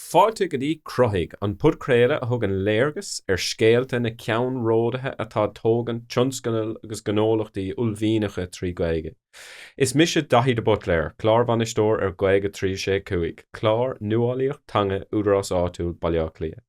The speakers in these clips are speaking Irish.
Fáilte go dtí Cruthaigh, an podchraoladh a thugann léargas ar scéalta na gceannródaithe atá ag tógaint tionscnamh agus gnólachtaí uaillmhianacha trí Gaeilge. Is mise Daithí de Buitléar, Clárbhainisteoir ar Gaeilge 365, clár nuálaíocht teanga Údarás Áitiúil Baile Átha Cliath.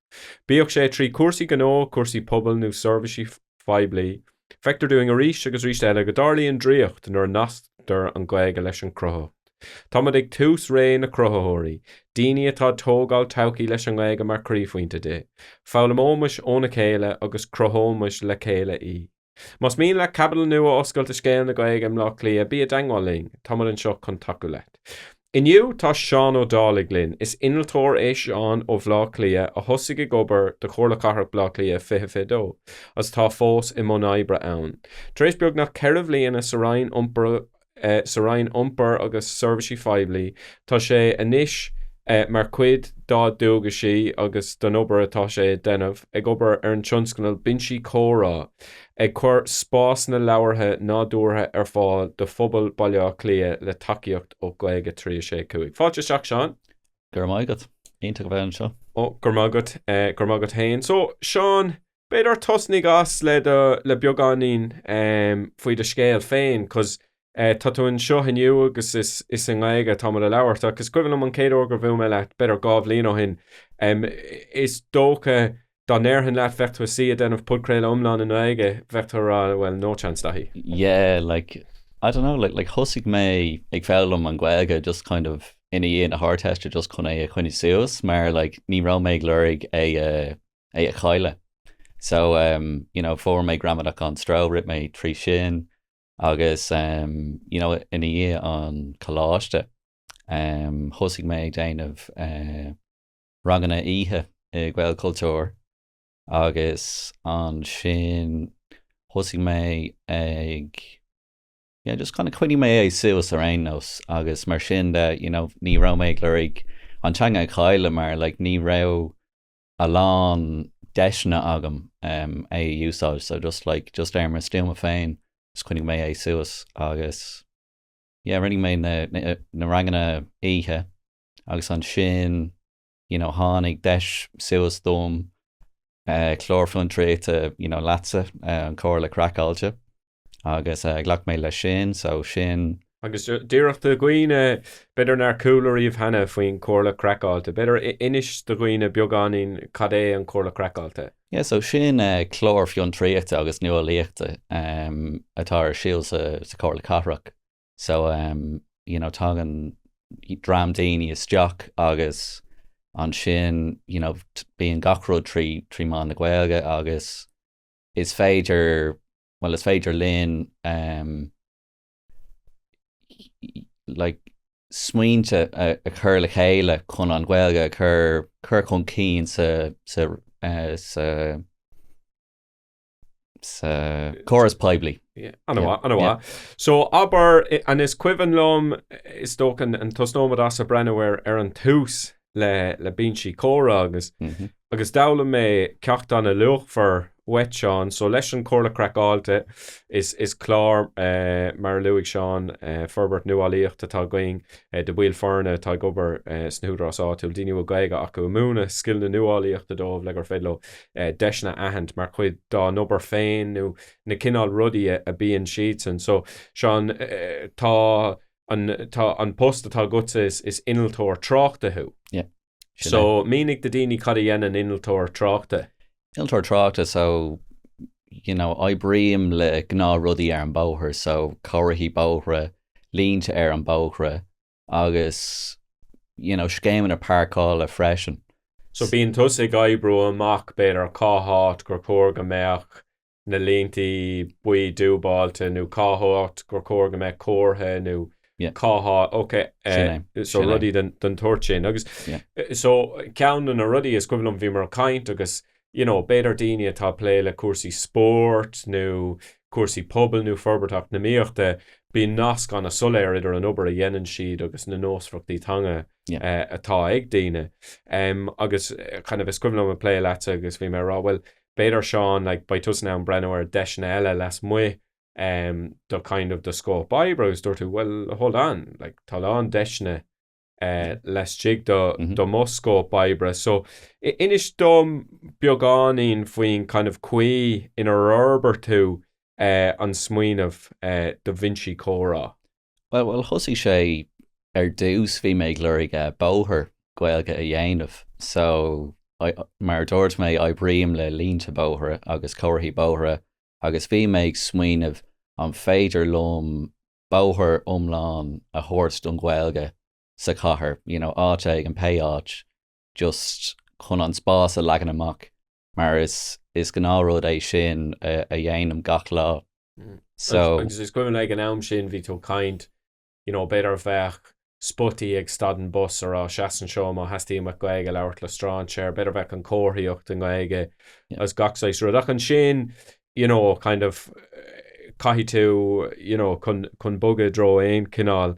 Bíodh sé trí cúrsaí gnó, cúrsaí pobail nó seirbhísí poiblí, feictear dúinn arís agus arís eile go dtarlaíonn draíocht nuair a nasctar an Ghaeilge leis an gcruthaitheacht. Táimid ag tús ré na cruthaitheoirí, daoine atá ag tógáil todhchaí leis an nGaeilge mar chroíphointe di. Foghlaimeoimis óna chéile agus cruthóimis le chéile í. Más mian leat caibidil nua a oscailt i scéal na Gaeilge i mBleá Cliath, bí i dteangmháil linn. Táimid anseo chun tacú leat. Inniu tá Seán Ó Dálaigh linn. Is innealtóir é Seán ó Bhleá Cliath a thosaigh ag obair do Chomhairle Cathrach Bhleá Cliath 2022 agus atá fós i mbun oibre ann. Tar éis beagnach ceithre bhliana sa Roinn Iompair, sa Roinn Iompair agus Seirbhísí Phoiblí. Tá sé anois, mar chuid dá dhualgaisí agus den obair atá sé a dhéanamh, ag obair ar an tionscnal Binsí Comhrá, ag cur spásanna labhartha nádúrtha ar fáil do phobal Bhaile Átha Cliath le tacaíocht ó Gaeilge 365. Fáilte isteach, Seán. Go raibh maith agat. Iontach a bheith anseo. Oh, go raibh maith agat. Go raibh maith agat féin. So, Seán. b'fhéidir tosnaigh as le do le beagáinín em faoi do scéal féin cos eh tá tú anseo inniu agus is is i nGaeilge atá muid a labhairt ach is cuimhin liom an chéad uair gur bhuail mé leat b'fhéidir dhá bhliain ó shin em is dócha dá ndéarfainn leat bheadh tú i do shuí ag déanamh podchraoladh iomlán i nGaeilge bheadh tú ag rá bhuel no chance Daithí. yeah like I don't know like like thosaigh mé ag foghlaim an Ghaeilge just kind of ina dhiaidh na hArdteiste just chun é a choinnigh suas mar like ní raibh mé ag lorg é a é a chailleadh. So um you know fuair mé Gramadach gan Stró, rith mé trí sin agus um you know ina dhiaidh an coláiste um thosaigh mé ag déanamh eh ranganna oíche i Gaelchultúr agus ansin thosaigh mé ag yeah just kind of choinnigh mé é suas ar aon nós agus mar sin de you know ní raibh mé ag lorg an teanga a chailleadh mar like ní raibh a lán deiseanna agam é a úsáid so just like just ar mo stuaim féin just coinnigh mé é suas agus yeah rinne mé na na ranganna oíche agus ansin you know tháinig deis suas dom clár fiontraíochta you know leatsa an Comhairle Craiceáilte Agus ghlac mé leis sin, so sin. Agus díreach do daoine, b'fhéidir nár chuala riamh cheana faoin Chomhairle Craiceáilte, b'fhéidir inis do dhaoine beagáinín cad é an Chomhairle Craiceáilte. Yeah, so sin clár fiontraíochta agus nuálaíochta atá ar siúl sa Chomhairle Cathrach. So, you know, tagann dream daoine isteach agus ansin, you know, bíonn gach rud trí mheán na Gaeilge agus. is féidir, bhuel, is féidir linn like smaointe a chur le chéile chun an Ghaeilge a chur, cur chun cinn sa, sa, sa, sa chóras poiblí. Ana mhaith, ana mhaith. So, abair, anois cuimhin liom, is dócha, an tús nóiméad, ise ag breathnú ar, ar an tús, le le binsí comhrá agus agus d'fhoghlaim mé ceachtanna luachmhar uait Seán. So leis an Chomhairle Craiceáilte is clár mar a luaigh Seán forbairt nuálaíocht atá againn de bhaill foirne atá ag obair sna húdaráis áitiúil, daoine a bhfuil Gaeilge acu, ag múineadh scil na nuálaíochta dóibh le gur féidir leo deiseanna a aithint mar chuid dá n-obair féin nó na cineál rudaí a bíonn siadsan. So Seán tá. Tá an post atá agatsa is innealtóir tráchta thú? Yep. Sin é. So mínigh do daoine cad a dhéanann innealtóir tráchta. Innealtóir tráchta, so you know, oibrím le gnáth rudaí ar an bóthar, so comharthaí bóithre, línte ar an bóithre agus you know, scéimeanna páirceála freisin. So bíonn tusa ag oibriú amach b'fhéidir cá háit gur chóir go mbeadh na línte buí dúbáilte nó cá háit gur chóir go mbeadh comhartha nó cá háit, ok, so rudaí den tsórt sin. Agus so ceann de na rudaí is cuimhin liom bhíomar ag caint agus, you know, b'fhéidir daoine atá ag plé le cúrsaí spóirt nó cúrsaí pobail nó forbairt eacnamaíochta, bíonn nasc ana soiléir idir an obair a dhéanann siad agus na nósmhaireachtaí teanga atá ag daoine. Agus kind of is cuimhin liom ag plé leatsa agus bhí mé ag rá, bhuel, B'fhéidir, Seán, like, beidh tusa in ann breathnú ar deiseanna eile lasmuigh de kind of do scóip oibre agus dúirt tú, well, hold on, like, tá a lán deiseanna laistigh de de mo scóip oibre. So, inis dom beagáinín faoin kind of caoi inar fhorbair tú an smaoineamh do bhinsí comhrá. Bhuel, thosaigh sé, ar dtús bhí mé ag lorg bóthar Gaeilge a dhéanamh. So, mar a dúirt mé, oibrím le línte bóithre agus comharthaí bóithre agus bhí mé ag smaoineamh an féidir liom bóthar iomlán a thabhairt don Ghaeilge sa chathair, you know, áit éigin, pé áit, just chun an spás a leagan amach. mar is gnáth rud é sin a dhéanaim gach lá so. Agus is cuimhin ag an am sin bhí tú caint you know b'fhéidir bheadh spotaí ag stad an bus a rá seas anseo má theastaíonn uait Gaeilge labhairt le stráinséir, b'fhéidir bheadh an comharthaíocht i nGaeilge as gach saghas rud ach ansin you know kind of caithfidh tú you know chun chun bogadh i dtreo aon chineál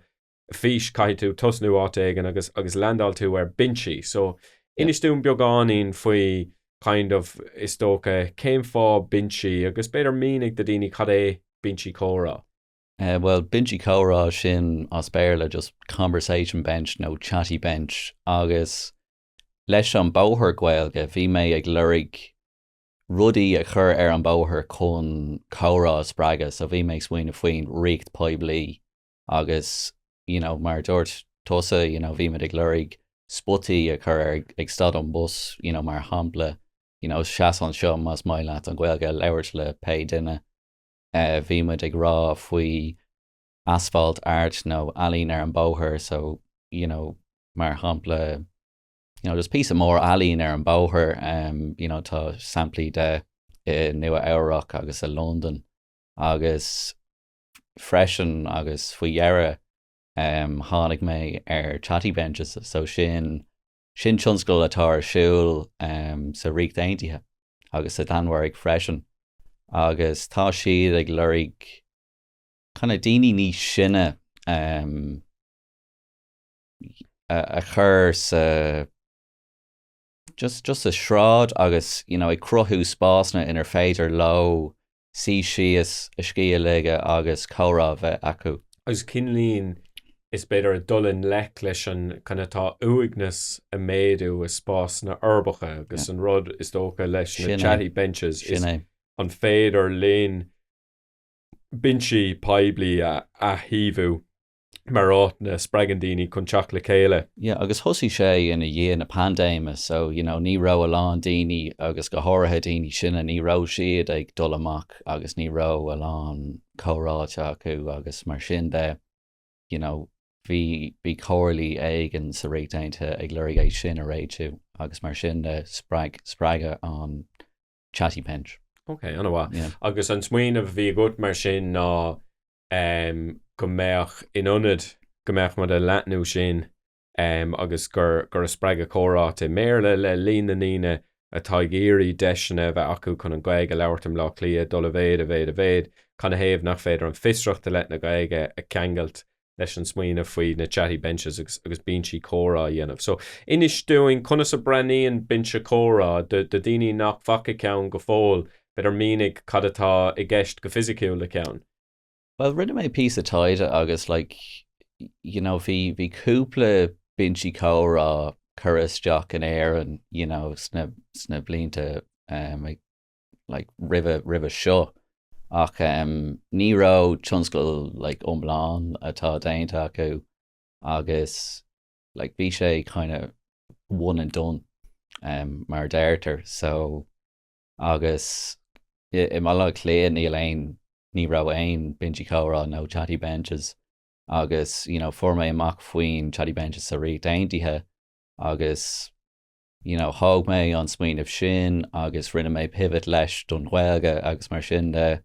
fís, caithfidh tú tosnú áit éigin agus, agus leandáil tú ar binsí. So, inis dúinn beagáinín faoi kind of, is dócha, cén fáth binsí agus b'fhéidir mínigh do daoine cad é binsí comhrá? Eh, bhuel, binsí comhrá, sin as Béarla just conversation bench nó chatty bench agus leis an bóthar Gaeilge bhí mé ag lorg rudaí a chur ar an bóthar chun comhrá a spreagadh so bhí mé ag smaoineamh faoin réimse poiblí, agus you know mar a dúirt tusa you know bhí muid ag lorg spotaí a chur ar ag stad an bus you know mar shampla you know seas anseo más maith leat an Ghaeilge a labhairt le pé duine eh bhí muid ag rá faoi asphalt art nó ealaín ar an bóthar so you know mar shampla you know just píosa mór ealaín ar an bóthar um, you know tá samplaí de i Nua Eabhrac agus i Londain agus freisin agus faoi dheireadh tháinig mé ar Chatty Benches so sin sin tionscadal atá ar siúl sa Ríocht Aontaithe agus sa Danmhairg freisin agus tá siad ag lorg kind of daoine níos sine a chur sa just just sa sráid agus you know ag cruthú spásanna inar féidir leo suí síos, a scíth a ligean agus comhrá a bheith acu. agus cinn linne is b'fhéidir ag dul i ngleic leis an kind of tá uaigneas ag méadú i spásanna uirbeacha agus an rud is dócha leis na chatty benches is an féidir linn binsí poiblí a athshamhlú mar áiteanna a spreagann daoine chun teacht le chéile. Yeah agus thosaigh sé ina dhiaidh na paindéime so you know ní raibh a lán daoine agus go háirithe daoine sine ní raibh siad ag dul amach agus ní raibh a lán comhráite acu agus mar sin de you know bhí bhí comhairlí éigin sa Ríocht Aontaithe ag lorg é sin a réitiú agus mar sin de spreag spreagadh an chatty bench. Ok, ana mhaith. Yeah. Agus an smaoineamh a bhí agat mar sin ná em, go mbeadh, in ionad go mbeadh muid ag leathnú sin em, agus gur gur ag spreagadh comhráite i mBéarla le líon na ndaoine atá ag iarraidh deiseanna a bheith acu chun an Ghaeilge a labhairt i mBleá Cliath ag dul i méid i méid i méid, cad ina thaobh nach féidir an fiosracht i leith na Gaeilge a cheangailt leis an smaoineamh faoi na chatty benches agus agus binsí comhrá a dhéanamh. So, inis dúinn conas a bhreathnaíonn binse comhrá do do dhaoine nach bhfaca ceann go fóill, b'fhéidir mínigh cad atá i gceist go fisiciúil le ceann? Bhuel, rinne mé píosa taighde agus like you know bhí bhí cúpla binsí comhrá curtha isteach in Éirinn you know sna sna blianta um, ag. like roimhe roimhe seo ach em ní raibh tionscadal like iomlán atá déanta acu agus like bhí sé kind of one and done em mar a deirtear so agus i i mBaile Átha Cliath níl aon ní raibh aon binsí comhrá nó chatty benches agus you know fuair mé amach faoin chatty benches sa Ríocht Aontaithe agus you know thóg mé an smaoineamh sin agus rinne mé pivot leis don Ghaeilge agus mar sin de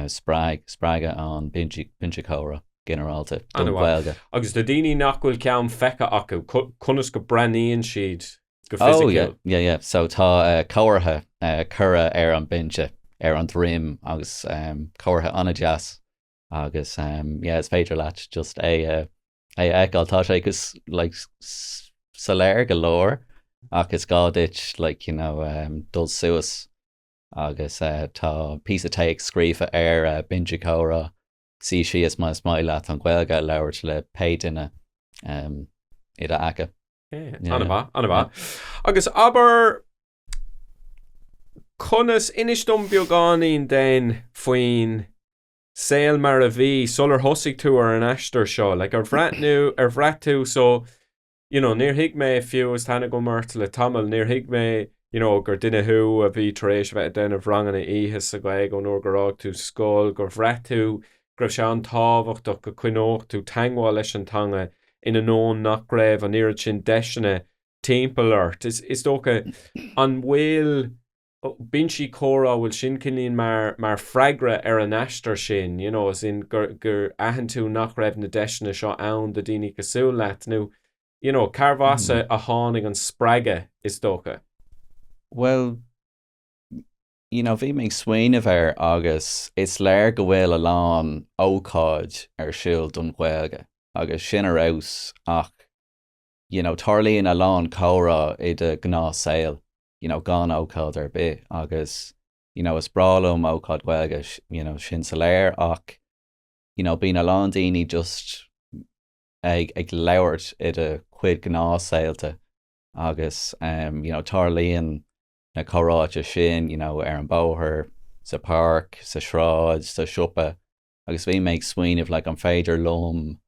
spreag spreagadh ann binse comhrá ginearálta don Ghaeilge. Agus do dhaoine nach bhfuil ceann feicthe acu, conas go mbreathnaíonn siad go fisiciúil? Oh yeah, yeah, so tá comhartha curtha ar an binse ar an droim agus comhartha an-deas agus yeah is féidir leat just é a a fheiceáil. Tá sé go soiléir go leor ach is gá duit like you know dul suas agus tá píosa téacs scríofa ar Binse Comhrá, suí síos má is maith leat an Ghaeilge a labhairt le pé duine i d'aice. Ana mhaith, ana mhaith. Agus abair conas, inis dom beagáinín den faoin saol mar a bhí sular thosaigh tú ar an aistear seo, like ar bhraith tú, ar bhraith tú, so you know níor thuig mé fiú is tá aithne agam ort le tamall, níor thuig mé you know gur duine thú a bhí tar éis a bheith ag déanamh ranganna oíche sa Ghaeilge ón uair gur fhág tú scoil, gur bhraith tú go raibh sé an-tábhachtach go coinneodh tú teagmháil leis an teanga in ainneoin nach raibh an oiread sin deiseanna timpeall ort. Is dócha, an bhfuil. binsí comhrá, an bhfuil sin cineál mar, mar freagra ar an aistear sin, you know, as in gur, gur aithin tú nach raibh na deiseanna seo ann do dhaoine cosúil leat nó you know, cárbh as a, a tháinig an spreagadh is dócha? Bhuel, you know, bhí mé ag smaoineamh air agus is léir go bhfuil a lán ócáid ar siúl don Ghaeilge agus sin ar fheabhas ach, you know, tarlaíonn a lán comhrá i do ghnáth saol. you know gan ócáid ar bith agus you know is breá liom ócáid Ghaeilge you know sin soiléir ach you know bíonn a lán daoine just ag ag labhairt i do chuid gnáthshaolta agus um, you know tarlaíonn na comhráite sin you know ar an bóthar, sa páirc, sa sráid, sa siopa agus bhí mé ag smaoineamh le like, an féidir liom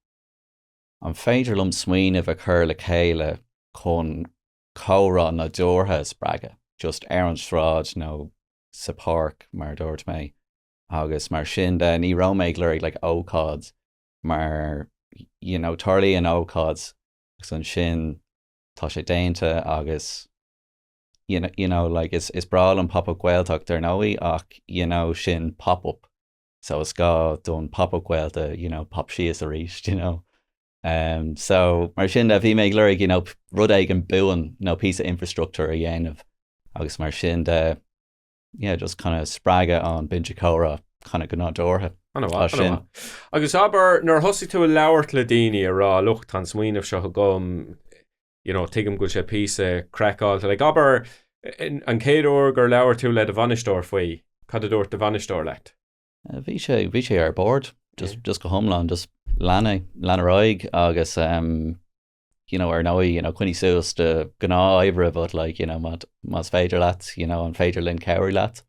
an féidir liom smaoineamh a chur le chéile chun comhrá nadúrtha a spreagadh, just ar an sráid nó sa páirc mar a dúirt mé agus mar sin de ní raibh mé ag lorg like ócáid mar you know tarlaíonn ócáid agus ansin tá sé déanta agus you know you know like is is breá liom Pop Up Gaeltacht ar ndóigh ach you know sin Pop Up so is gá don Pop Up Gaelta you know pop síos arís you know. So, mar sin de, bhí mé ag lorg, you know, rud éigin buan, nó píosa infrastructúir a dhéanamh, agus mar sin de, yeah, just kind of spreagadh an Binse Comhrá kind of go nádúrtha. Ana-mhaith, ana-mhaith. Agus abair, nuair a thosaigh tú ag labhairt le daoine, a rá, look, tá an smaoineamh seo agam, you know, tuigim go bhfuil sé píosa craiceáilte, like, abair, an chéad uair gur labhair tú le do bhainisteoir faoi, cad a dúirt do bhainisteoir leat? Bhí sé, bhí sé ar bord, just, just go hiomlán, just lean é, lean ar aghaidh agus ehm, you know, ar ndóigh, you know, coinnigh suas do ghnáthoibre but like, you know, má, más féidir leat, you know, an féidir linn cabhrú leat?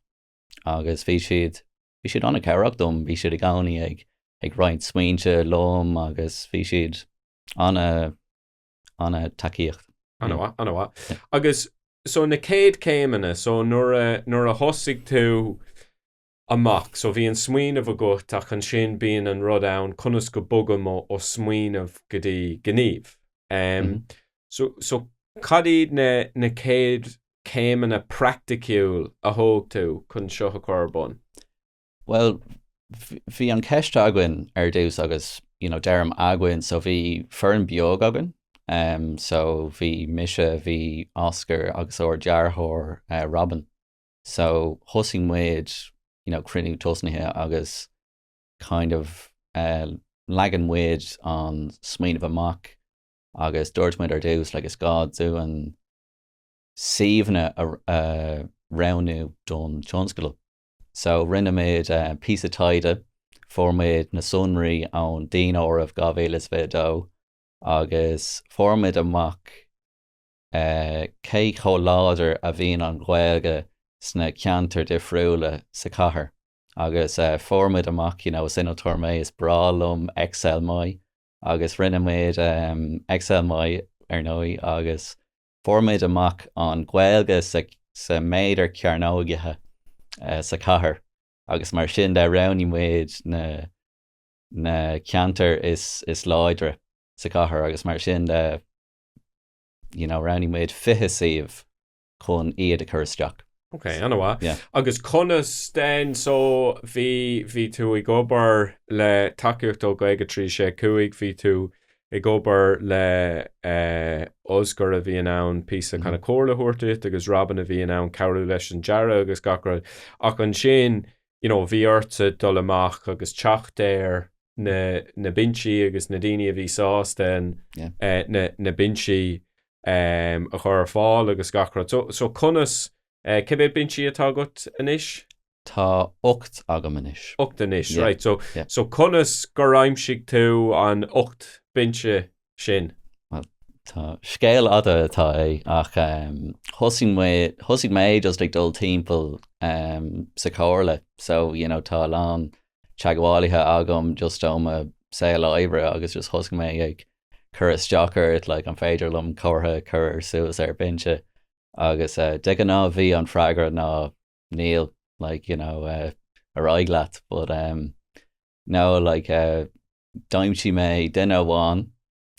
Agus bhí siad, bhí siad ana-cabhrach dom, bhí siad i gcónaí ag, ag roinnt smaointe liom agus bhí siad ana, ana-tacaíocht. Ana-mhaith, ana-mhaith. Agus so na céad céimeanna, so nuair a, nuair a thosaigh tú, amach. So bhí an smaoineamh agat ach ansin bíonn an rud ann conas go bogaim ó smaoineamh go dtí gníomh. So so cad iad na na céad céimeanna praiticiúil a thóg tú chun seo a chur ar bun? Bhuel bhí an ceist againn ar dtús agus you know deirim againn so bhí foireann beag againn so bhí mise, bhí Oscar agus ár dearthóir Robyn. So thosaigh muid you know cruinniú tosnaithe agus kind of leagann muid an smaoineamh amach agus dúirt muid ar dtús like is gá dúinn suíomhanna a roghnú don tionscadal. So rinne muid píosa taighde, fuair muid na sonraí ón daonáireamh 2022 agus fuair muid amach Cé chomh láidir a bhíonn an Ghaeilge sna ceantair difriúla sa chathair? Agus fuair muid amach, you know, is innealtóir mé, is breá liom Excel maith agus rinne muid Excel maith, ar ndóigh, agus fuair muid amach an Ghaeilge sa méadar cearnógaithe sa chathair agus mar sin de roghnaigh muid na ceantair is láidre sa chathair agus mar sin de. You know, roghnaigh muid fiche suíomh chun iad a chur isteach. Ok, ana-mhaith. Yeah. Agus conas den, so, bhí, bhí tú ag obair le tacaíocht ó Ghaeilge 365, bhí tú ag obair le eh, Oscar a bhí in ann píosa kind of comhairle a thabhairt duit agus Robin a bhí in ann cabhrú leis an dearadh agus gach rud, ach ansin you know, bhí ortsa dul amach agus teacht ar na, na binsí agus na daoine a bhí sásta an, Yeah. eh, na, na binsí em, a chur ar fáil agus gach rud. So, so conas, eh, cé mhéad binsí atá agat anois? Tá ocht agam anois. Ocht anois, Yeah, right. So, yeah. so conas gur aimsigh tú an ocht binse sin. Bhuel, scéal fada atá é, ach thosaigh mé, thosaigh mé just ag dul timpeall sa chomhairle, so, you know, tá a lán teagmhálaithe agam just ó mo saol oibre agus just thosaigh mé ag cur isteach air, like, an féidir liom comhartha a chur ar suas ar bhinse? Agus de ghnáth bhí an freagra ná, níl, like, you know, ar aghaidh leat, but, nó like d'aimsigh mé duine amháin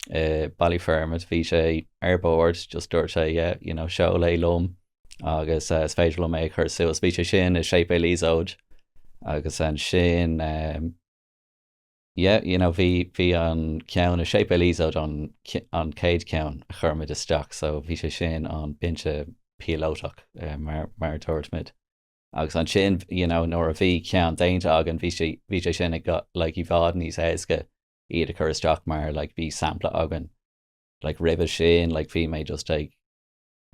i Ballyfermot, bhí sé ar bord, just dúirt sé yeah, you know, seol é liom agus uh, is féidir liom é a chur suas. Bhí sé sin i séipéal Iosóid agus an sin um, yeah, you know, bhí bhí an ceann i Séipéal Iosóid an, an chéad ceann a chuir muid isteach, so bhí sé sin an binse píolótach uh, mar, mar dúirt muid. Agus ansin, you know, nuair a bhí ceann déanta againn, bhí sé, bhí sé sin ag, like, i bhfad níos éasca iad a chur isteach mar, like, bhí sampla againn. Like, roimhe sin, like, bhí mé just ag,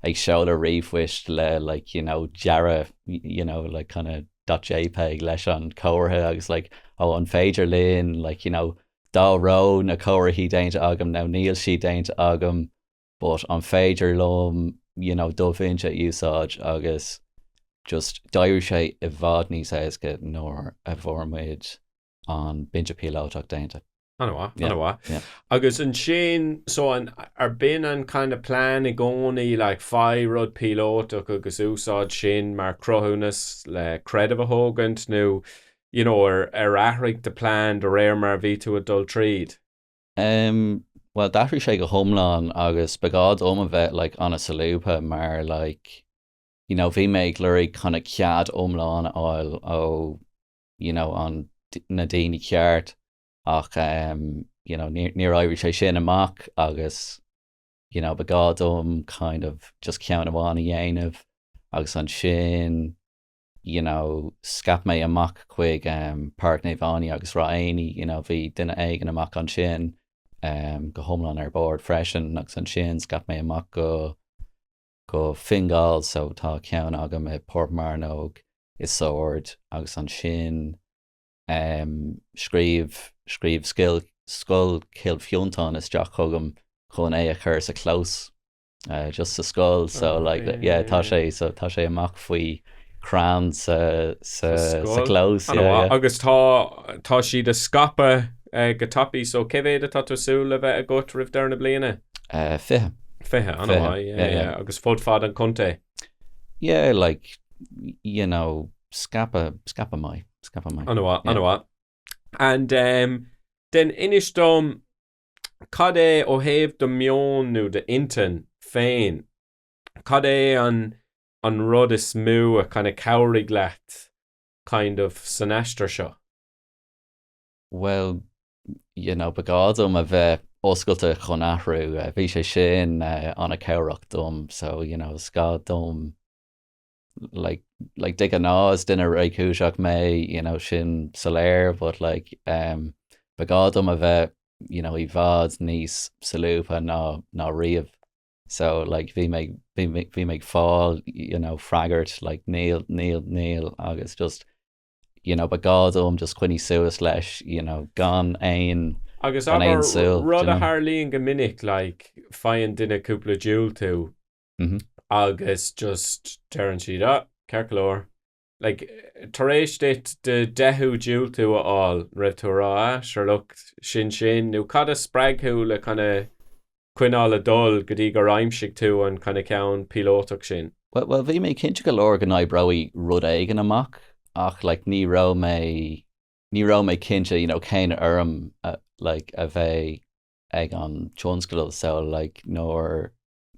ag seoladh ríomhphoist le, like, you know, dearadh, you know, like, kind of dot jpeg leis an chomhartha agus, like, oh, an féidir linn, like, you know, dá raibh na comharthaí déanta agam nó níl siad déanta agam, but an féidir liom you know do bhinse a úsáid agus just d'éirigh sé i bhfad níos éasca nuair a bhfuair muid an binse píolótach déanta. Ana-mhaith, ana-mhaith. Agus ansin, so an, arbh in an kind of plean i gcónaí like faigh rud píolótach agus úsáid sin mar chruthúnas le creideamh a thógaint nó you know ar athraigh do phlean de réir mar a bhí tú ag dul tríd? Em, Bhuel, d'athraigh sé go hiomlán agus ba ghá dhom a bheith like an-solúbtha mar like you know bhí mé ag lorg kinda cead iomlán a fháil ó you know an, na daoine ceart ach em you know níor, níor éirigh sé sin amach agus you know ba ghá dhom kind of just ceann amháin a dhéanamh agus ansin you know Scaip mé amach chuig em Páirc Naomh Áine agus Ráth Éanaí you know bhí duine éigin amach ansin em go hiomlán ar bord freisin agus ansin scaip mé amach go go Fingal so tá ceann agam i bPort Mearnóg, i Sord agus ansin em scríobh scríobh scoil Chill Fhionntáin isteach chugam chun é a chur sa chlós. just sa scoil so like yeah tá sé so tá sé amach faoi chrann sa sa sa clós yeah yeah. Agus tá tá siad ag scaipeadh go tapaidh so cé mhéad atá tú ag súil le bheith agat roimh deireadh na bliana? Eh, fiche. Fiche, ana mhaith, yeah yeah yeah. Agus fud fad an chontae? Yeah like you know scaipeadh scaipeadh maith scaipeadh maith. Ana mhaith, ana mhaith. And ehm dein inis dom Cad é, ó thaobh do mheoin nó d'intinn féin, cad é an an rud is mó a kind of chabhraigh leat kind of san aistear seo? Bhuel, you know, ba ghá dom a bheith oscailte chun athrú. Bhí sé sin an-cabhrach dom so, you know, is gá dom. like de ghnáth is duine réchúiseach mé you know sin soiléir but like um ba ghá dom a bheith you know i bhfad níos solúbtha ná ná riamh so like bhí mé bhí mé bhí mé ag fáil you know freagairt like níl níl níl agus just you know ba ghá dom just coinní suas leis you know gan aon Agus gan aon súil rud a tharlaíonn go minic like faigheann duine cúpla diúltú agus just deireann siad, ah, ceart go leor, like, tar éis duit do deichiú diúltú a fháil, raibh tú ag rá, ah, sure, look, sin sin, nó cad a spreag thú le kind of coinneáil ag dul go dtí gur aimsigh tú an kind of ceann píolótach sin? Bhuel, bhuel, bhí mé cinnte go leor go n-oibreoidh rud éigin amach, ach, like, ní raibh mé, ní raibh mé cinnte, you know, cén fhoirm a, like, a bheidh ag an tionscadal, so, like, nuair,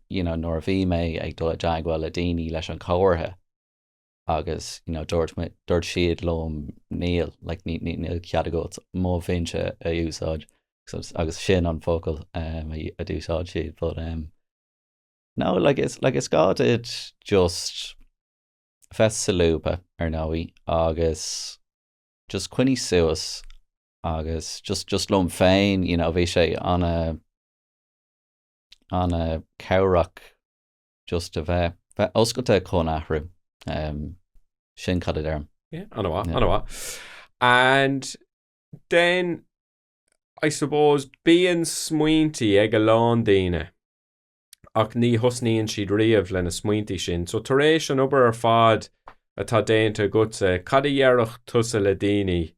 you know, nuair a bhí mé ag dul i dteagmháil le daoine leis an chomhartha agus, you know, dúirt muid, dúirt siad liom, níl, like, ní, ní, níl cead agat mo bhinse a úsáid, agus, agus sin an focal, um, a, a d'úsáid siad, but, um, no, like, is, like, is gá duit just bheith solúbtha, ar ndóigh, agus just coinnigh suas, agus just, just liom féin, you know, bhí sé ana, ana cabhrach just a bheith, bheith oscailte chun athrú. Sin cad a deirim. Yeah, ana mhaith, ana mhaith. And then, I suppose, bíonn smaointí ag a lán daoine ach ní thosnaíonn siad riamh lena smaointí sin. So tar éis an obair ar fad atá déanta agatsa, cad a dhéarfadh tusa le daoine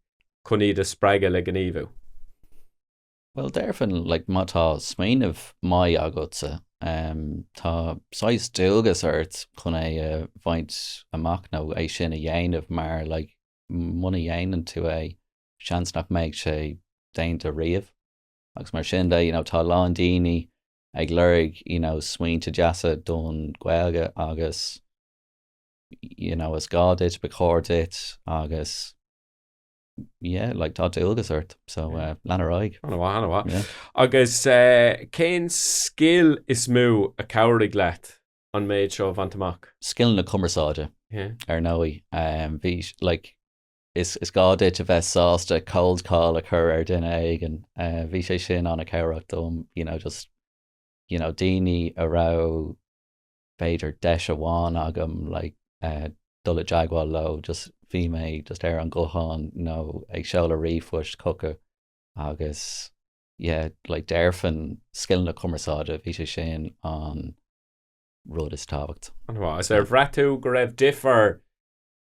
chun iad a spreagadh le gníomhú? Bhuel, déarfainn, like, má tá smaoineamh maith agatsa, em, tá saghas dualgas ort chun é a bhaint amach nó é sin a dhéanamh mar, like, muna dhéanann tú é, seans nach mbeidh sé déanta riamh agus mar sin de, you know, tá a lán daoine ag lorg, you know, smaointe deasa don Ghaeilge agus, you know, is gá duit, ba chóir duit agus. Yeah, like tá dualgas ort, so lean ar aghaidh. Ana mhaith, ana mhaith. Yeah. Agus cén scil is mó a chabhraigh leat an méid seo a bhaint amach? Scil na cumarsáide. Yeah. Ar ndóigh. Bhí, like, is gá duit a bheith sásta cold call a chur ar duine éigin. Bhí sé sin ana cabhrach dom, you know, just, you know, daoine a raibh, b'fhéidir deis amháin agam like dul i dteagmháil leo just bhí mé just ar an ghuthán nó ag seoladh ríomhphoist chucu agus yeah like déarfainn scileanna cumarsáide bhí sé sin an rud is tábhacht. Ana mhaith. Is ar bhraith tú go raibh difear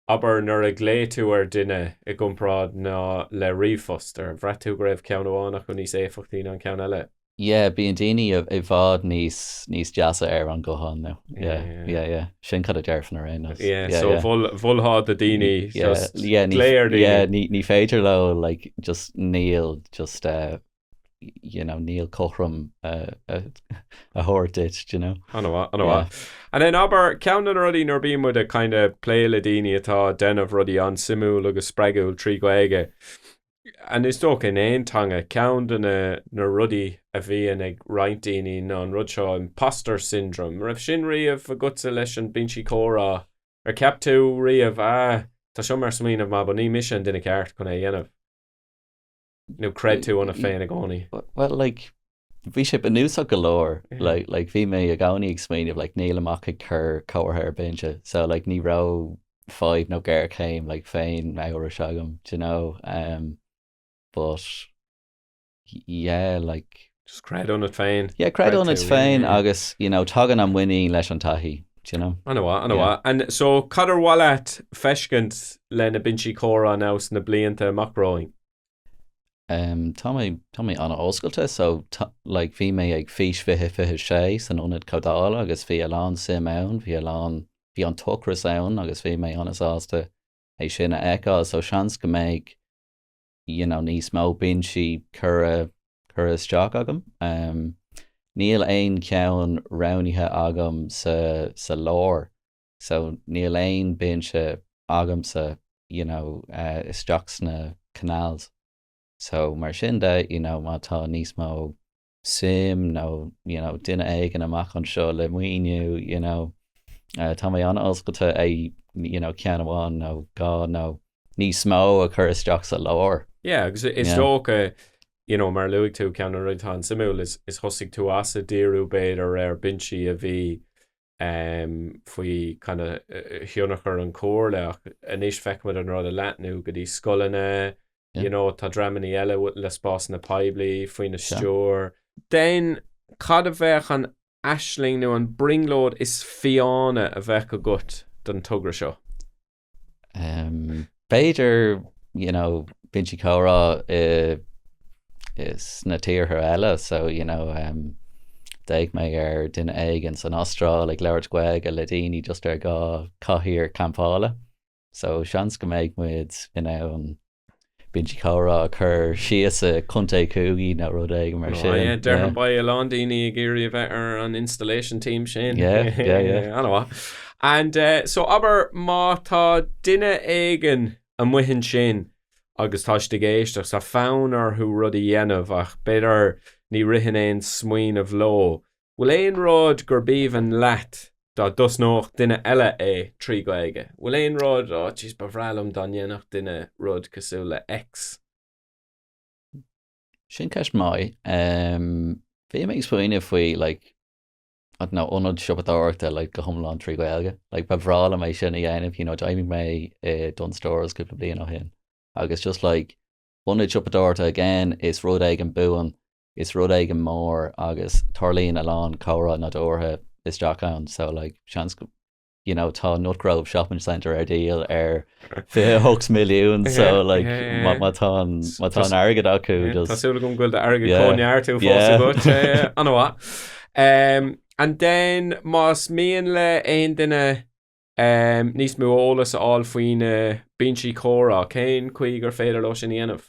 Abair nuair a ghlaoigh tú ar duine i gcomparáid ná le ríomhphost, ar bhraith tú go raibh ceann amháin acu níos éifeachtaí ná an ceann eile? Yeah, bíonn daoine i bhfad níos, níos deasa ar an ghuthán nó. Yeah, yeah, yeah. Sin cad a déarfainn ar aon nós. Yeah, so mholfá do daoine just glaoch ar daoine? Yeah, ní féidir leo like just níl just. you know, níl cothrom a thabhairt duit, you know? Ana mhaith, ana mhaith. And then abair ceann de na rudaí nuair a bíonn muid ag kind of plé le daoine atá ag déanamh rudaí an-suimiúil agus spreagúil trí Ghaeilge, and is dócha in aon teanga, ceann de na na rudaí a bhíonn ag roinnt daoine ná an rud seo imposter syndrome, an raibh sin riamh agatsa leis an binsí comhrá? Ar cheap tú riamh, ah, tá seo mar smaoineamh maith but ní mise an duine ceart chun é a dhéanamh? nó creid tú ionat féin i gcónaí? Bhuel, like, bhí sé bunúsach go leor. Like, like, bhí mé i gcónaí ag smaoineamh, like, níl mé ach ag cur comhartha ar binse, so, like, ní raibh fadhb nó géarchéim, like, féinamhrais agam, do you know, um, but, yeah, like, Just creid ionat féin. Yeah, creid Creid ionat tú, féin yeah. agus, you know, tagann an mhuinín leis an taithí, do you know? Ana mhaith, ana Yeah. mhaith. And so, cad ar mhaith leat feiscint leis na binsí comhrá ins na blianta amach romhainn? Um, tá mé, tá mé ana oscailte, so, tá, like, bhí mé ag Fís 2026 san Ionad Comhdhála agus bhí a lán suim ann, bhí a lán, bhí an t-ocras ann agus bhí mé ana sásta é sin a fheiceáil, so seans go mbeidh, you know níos mó binsí curtha curtha isteach agam um níl aon cheann roghnaithe agam sa sa lár so níl aon binse agamsa you know uh, isteach sna canals so mar sin de you know má tá níos mó suim nó you know duine éigin amach anseo le maoiniú you know tá mé an-oscailte é you know ceann amháin nó dhá nó níos mó a chur isteach sa lár. Yeah agus is dócha you know mar a luaigh tú ceann de na rudaí atá an-suimiúil ná thosaigh tú ag díriú b'fhéidir ar binsí a bhí faoi kind of thionchar an Chomhairle ach anois feicimid an rud ag leathnú go dtí scoileanna, you know tá dreamannaí eile le spásanna poiblí faoina stiúir. Then cad a bheadh an aisling nó an brionglóid is fiáine a bheadh agat don togra seo? B'fhéidir, you know, binsí comhrá sna tíortha eile, so, you know, d'fhéach mé ar duine éigin san Astráil ag labhairt Gaeilge le daoine just ar dhá chathaoir campála, so seans go mbeidh muid in ann Binsí comhrá a chur síos i gContae Coogee nó rud éigin mar sin. Yeah, déarfainn beidh a lán daoine ag iarraidh a bheith ar an installation team sin. Yeah, yeah, yeah. Ana mhaith. And eh, so abair má tá duine éigin amuigh ansin agus tá siad ag éisteacht, tá fonn orthu rud a dhéanamh ach b'fhéidir ní ritheann aon smaoineamh leo, Bhfuil aon rud gurb aoibhinn leat dá dtosnódh duine eile é trí Ghaeilge? Bhfuil aon rud, oh jeez, ba bhreá liom dá ndéanfadh duine rud cosúil le X? Sin ceist mhaith. Um, Bhí mé ag smaoineamh faoi like, I don't know, ionad siopadóireachta like, go hiomlán trí Gaeilge. Like, ba bhreá liom é sin a dhéanamh, you know, d'oibrigh mé i eh, Dunnes Stores cúpla bliain ó shin. Agus just like, ionad siopadóireachta again is rud éigin buan Is rud éigin mór é agus tarlaíonn a lán comhrá nádúrtha isteach ann so like seans go you know tá Nutgrove Shopping Centre ar díol ar 28 milliún so like má tá an má tá an airgead acu just. Tá súil agam go bhfuil an t-airgead. Cinnte, an-mhaith. Umm and then más mian le haon duine umm níos mó eolas a fháil faoi na binsí comhrá cén chaoi gur féidir leo sin a dhéanamh?